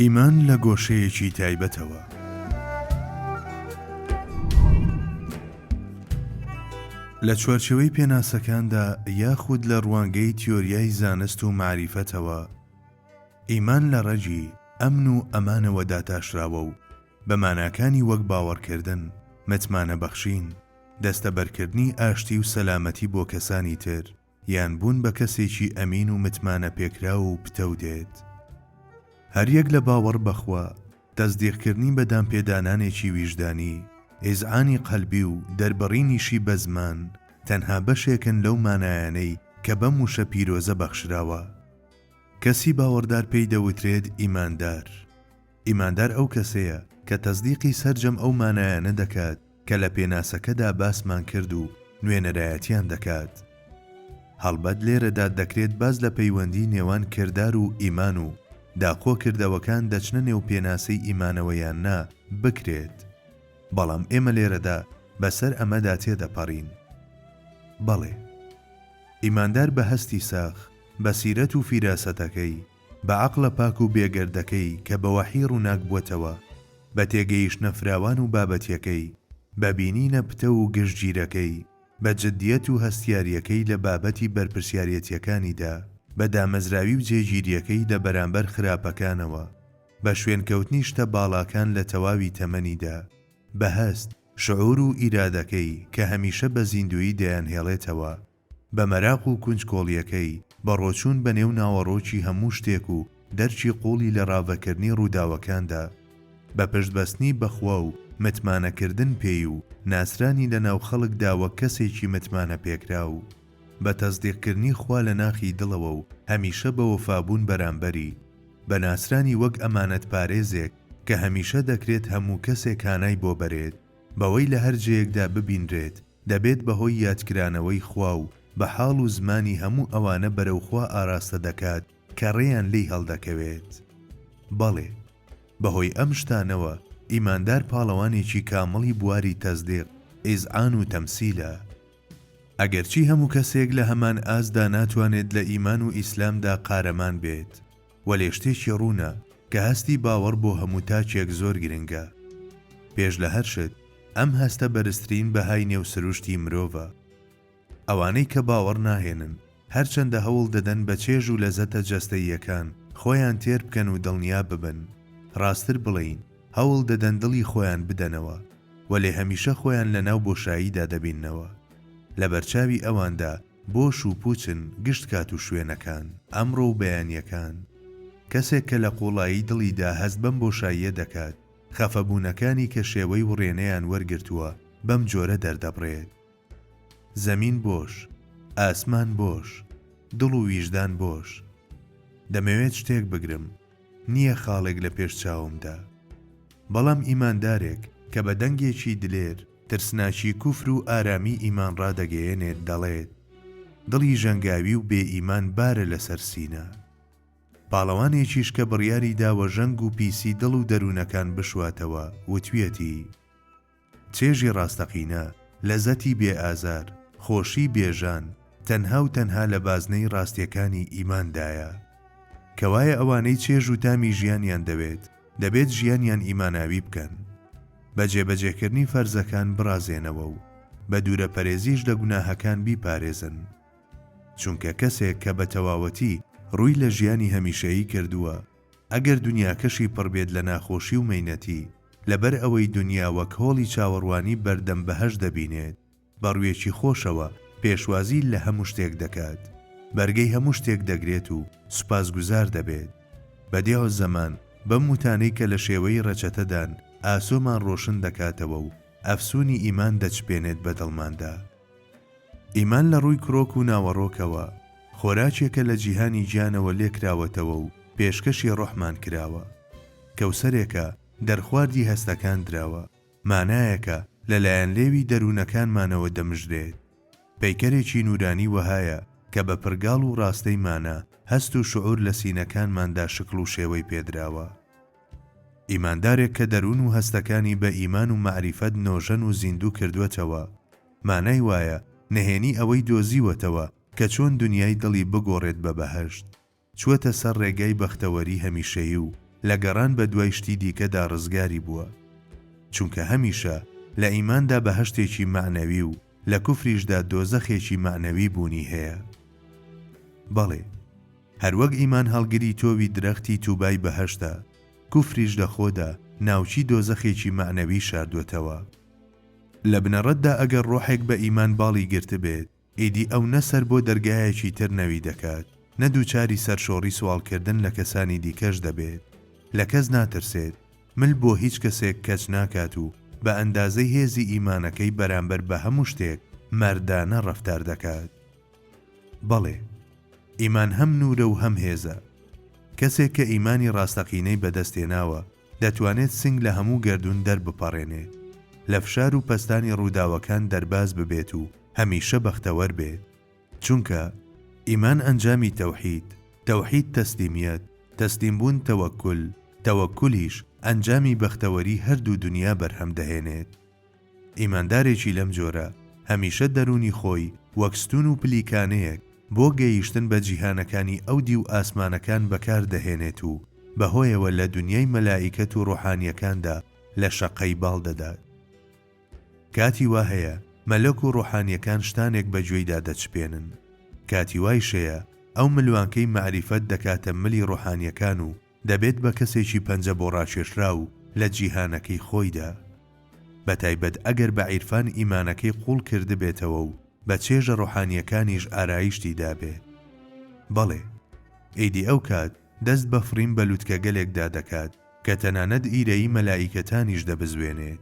ئیمان لە گۆشەیەکی تایبەتەوە. لە چوارچێوەی پێناسەکاندا یاخود لە ڕوانگەی تیۆریای زانست و مەعریفەتەوە، ئیمان لە ڕەگی، ئەمن و ئەمانەوە داتاشراوە و بە ماناکانی وەک باوەڕکردن، متمانەبەخشین، دەستەبەرکردنی ئاشتی و سەلامەتی بۆ کەسانی تر، یان بوون بە کەسێکی ئەمین و متمانە پێکراو و پتەو دێت. هەر یەک لە باوەڕ بە خوا، تەسدیقکردنی بە دانپێدانانێکی ویژدانی، ئیزعانی قەلبی و دەربڕینیشی بە زمان، تەنها بەشێکن لەو مانایانەی کە بەم وشە پیرۆزە بەخشراوە. کەسی باوەڕدار پێی دەوترێت ئیماندار. ئیماندار ئەو کەسەیە کە تەسدیقی سەرجەم ئەو مانایانە دەکات کە لە پێناسەکەدا باسمان کرد و نوێنەرایەتیان دەکات. هەڵبەت لێرەدا دەکرێت باس لە پەیوەندی نێوان کردار و ئیمان و داخۆ کردەوەکان دەچنە نێو پێناسەی ئیمانەوە یان نا بکرێت، بەڵام ئێمە لێرەدا بەسەر ئەمەدا تێدەپەڕین. بەڵێ. ئیماندار بە هەستی ساخ، بەسیرەت و فیراسەتەکەی، بە عەقڵە پاک و بێگەردەکەی کە بە وەحی ڕووناک بووەتەوە، بە تێگەیشتنە فراوان و بابەتیەکەی، بە بینینە پتەو و گشتگیرەکەی، بە جدیەت و هەستیاریەکەی لە بابەتی بەرپرسیاریەتیەکانیدا، بە دامەزراوی و جێگیریەکەی لە بەرامبەر خراپەکانەوە، بە شوێنکەوتنی شتە باڵاکان لە تەواوی تەمەنیدا، بە هەست، شعور و ئیرادەکەی کە هەمیشە بە زیندوویی دەیانهێڵێتەوە بە مەراق و کونجکۆڵییەکەی، بە ڕۆچوون بە نێو ناوەڕۆکی هەموو شتێک و دەرکی قووڵی لە ڕاڤەکردنی ڕووداوەکاندا، بە پشت بەستنی بە خوا و متمانەکردن پێی و ناسرانی لە ناو خەڵکدا وەک کەسێکی متمانە پێکراو، بە تەسدیقکردنی خوا لە ناخی دڵەوە و هەمیشە بە وەفابوون بەرامبەری، بە ناسرانی وەک ئەمانەتپارێزێک کە هەمیشە دەکرێت هەموو کەسێک هانای بۆ بەرێت. بەوەی لە هەر جێیەکدا ببینرێت، دەبێت بە هۆی یادکرانەوەی خوا و بە حاڵ و زمانی هەموو ئەوانە بەرەو خوا ئاراستە دەکات کە ڕێیان لێی هەڵدەکەوێت. بەڵێ، بە هۆی ئەم شتانەوە، ئیماندار پاڵەوانێکی کامڵی بواری تەزدیق، ئیزعان و تەمسیلە. ئەگەرچی هەموو کەسێک لە هەمان ئاستدا ناتوانێت لە ئیمان و ئیسلامدا قارەمان بێت، وەلێ شتێکی ڕوونە کە هەستی باوەڕ بۆ هەموو تاکێک زۆر گرنگە. پێش لە هەر شت، ئەم هەستە بەرزترین بەهای نێو سروشتی مرۆڤە. ئەوانەی کە باوەڕ ناهێنن، هەرچەندە هەوڵ دەدەن بە چێژ و لەزەتە جەستەییەکان خۆیان تێر بکەن و دڵنیا ببن، ڕاستتر بڵێین، هەوڵ دەدەن دڵی خۆیان بدەنەوە، وەلێ هەمیشە خۆیان لەناو بۆشاییدا دەبیننەوە. لەبەرچاوی ئەواندا بۆش و پووچن گشت کات و شوێنەکان، ئەمڕۆ و بەیانییەکان. کەسێک کە لە قووڵایی دڵیدا هەست بەم بۆشاییە دەکات، خەفەبوونەکانی کە شێوەی وڕێنەیان وەرگرتووە بەم جۆرە دەردەبڕێت. زەمین بۆش. ئاسمان بۆش. دڵ و ویژدان بۆش. دەمەوێت شتێک بگرم. نییە خاڵێک لە پێش چاومدا. بەڵام ئیماندارێک کە بە دەنگێکی دلێر، ترسناکی کوفر و ئارامی ئیمان ڕادەگەیەنێت دەڵێت، دڵی ژەنگاوی و بێ ئیمان بارە لەسەر سینە. پاڵەوانێکیش کە بڕیاری داوە ژەنگ و پیسی دڵ و دەروونەکان بشواتەوە، وتویەتی، چێژی ڕاستەقینە، لەزەتی بێ ئازار، خۆشی بێ ژان، تەنها و تەنها لە بازنەی ڕاستیەکانی ئیماندایە. کەوایە ئەوانەی چێژ و تامی ژیانیان دەوێت، دەبێت ژیانیان ئیماناوی بکەن بە جێبەجێکردنی فەرزەکان بڕازێنەوە و بە دوورە پەرێزیش لە گوناهەکان بیپارێزن چونکە کەسێک کە بە تەواوەتی ڕووی لە ژیانی هەمیشەیی کردووە ئەگەر دونیاکەشی پڕبێت لە ناخۆشی و مەینەتی لەبەر ئەوەی دونیا وەک هۆڵی چاوەڕوانی بەردەم بەهەشت دەبینێت. بە ڕوویەکی خۆشەوە پێشوازی لە هەموو شتێک دەکات، بەرگەی هەموو شتێک دەگرێت و سوپاسگوزار دەبێت. بەدیعوزەمان بەم وتانەی کە لە شێوەی ڕەچەتەدان ئاسۆمان ڕۆشن دەکاتەوە و ئەفسوونی ئیمان دەچپێنێت بە دڵماندا. ئیمان لە ڕووی کرۆک و ناوەڕۆکەوە، خۆراکێکە لە جیهانی گیانەوە لێکراوەتەوە و پێشکەشی ڕۆحمان کراوە. کەوسەرێکە دەرخواردی هەستەکان دراوە. مانایەکە لە لایەن لێوی دەروونەکانمانەوە دەمژرێت. پەیکەرێکی نوورانی وەهایە کە بە پرگاڵ و ڕاستەی مانا، هەست و شعوور لە سینەکانماندا شکڵ و شێوەی پێدراوە. ئیماندارێک کە دەروون و هەستەکانی بە ئیمان و مەعریفەت نۆژەن و زیندوو کردووەتەوە، مانای وایە نهێنی ئەوەی دۆزیوەتەوە کە چۆن دنیای دڵی بگۆڕێت بە بەهەشت. چووەتە سەر ڕێگای بەختەوەری هەمیشەیی و لە گەڕان بە دوای شتی دیکەدا ڕزگاری بووە. چونکە هەمیشە لە ئیماندا بەهەشتێکی مەعنەوی و لە کوفریشدا دۆزەخێکی مەعنەوی بوونی هەیە. بەڵێ، هەروەک ئیمان هەڵگری تۆوی درەختی تووبای بەهەشتە، کوفریش لە خۆدا ناوکی دۆزەخێکی مەعنەوی شاردووەتەوە. لە بنەڕەتدا ئەگەر ڕۆحێک بە ئیمان باڵی گرتبێت، ئیدی ئەو نە سەر بۆ دەرگایەکی تر نەوی دەکات، نە دووچاری سەرشۆڕی سواڵکردن لە کەسانی دیکەش دەبێت، لە کەس ناترسێت، مل بۆ هیچ کەسێک کەچ ناکات و بە ئەندازەی هێزی ئیمانەکەی بەرامبەر بە هەموو شتێک مەردانە ڕەفتار دەکات. بەڵێ، ئیمان هەم نوورە و هەم هێزە. کەسێک کە ئیمانی ڕاستەقینەی بەدەست هێناوە، دەتوانێت سنگ لە هەموو گەردوون دەربپەڕێنێ، لە فشار و پەستانی ڕووداوەکان دەرباز ببێت و هەمیشە بەختەوەر بێت. چونکە، ئیمان ئەنجامی تەوحید، تەوحید تەسلیمیەت، تەسلیم بوون تەوەکول، تەوەکولیش ئەنجامی بەختەوەری هەردوو دونیا بەرهەم دەهێنێت. ئیماندارێکی لەم جۆرە هەمیشە دەروونی خۆی وەک ستوون و پلیکانەیەک بۆ گەیشتن بە جیهانەکانی ئەو دیو ئاسمانەکان بەکار دەهێنێت و بەهۆیەوە لە دونیای مەلائیکەت و ڕۆحانییەکاندا لە شەققەی باڵ دەدات. کاتی وا هەیە مەلەک و ڕۆحانییەکان شتانێک بە گوێیدا دەچپێنن. کاتی وایش هەیە ئەو ملوانکەی مەعریفەت دەکاتە ملی ڕۆحانییەکان و دەبێت بە کەسێکی پەنجە بۆ ڕاکێشراو لە جیهانەکەی خۆیدا. بە تایبەت ئەگەر بە عیرفان ئیمانەکەی قووڵ کردبێتەوە و بە چێژە ڕۆحانییەکانیش ئارایشتی دابێ. بەڵێ، ئیدی ئەو کات دەست بە فڕین بە لوتکەگەلێکدا دەکات کە تەنانەت ئیرەیی مەلائیکەتانیش دەبزوێنێت.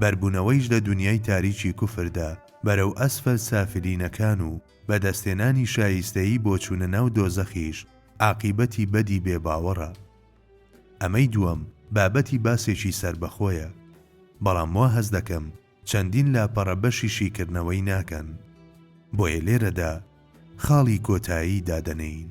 بەربوونەوەیش لە دونیای تاریکی کوفردا بەرەو ئەسفەل سافلینەکان و بەدەستهێنانی شایستەیی بۆ چوونە ناو دۆزەخیش عاقیبەتی بەدی بێ باوەڕە. ئەمەی دووەم بابەتی باسێکی سەربەخۆیە. بەڵام وا هەست دەکەم چەندین لاپەڕە بەشی شیکردنەوەی ناکەن. بۆیە لێرەدا خاڵی کۆتایی دادەنێین.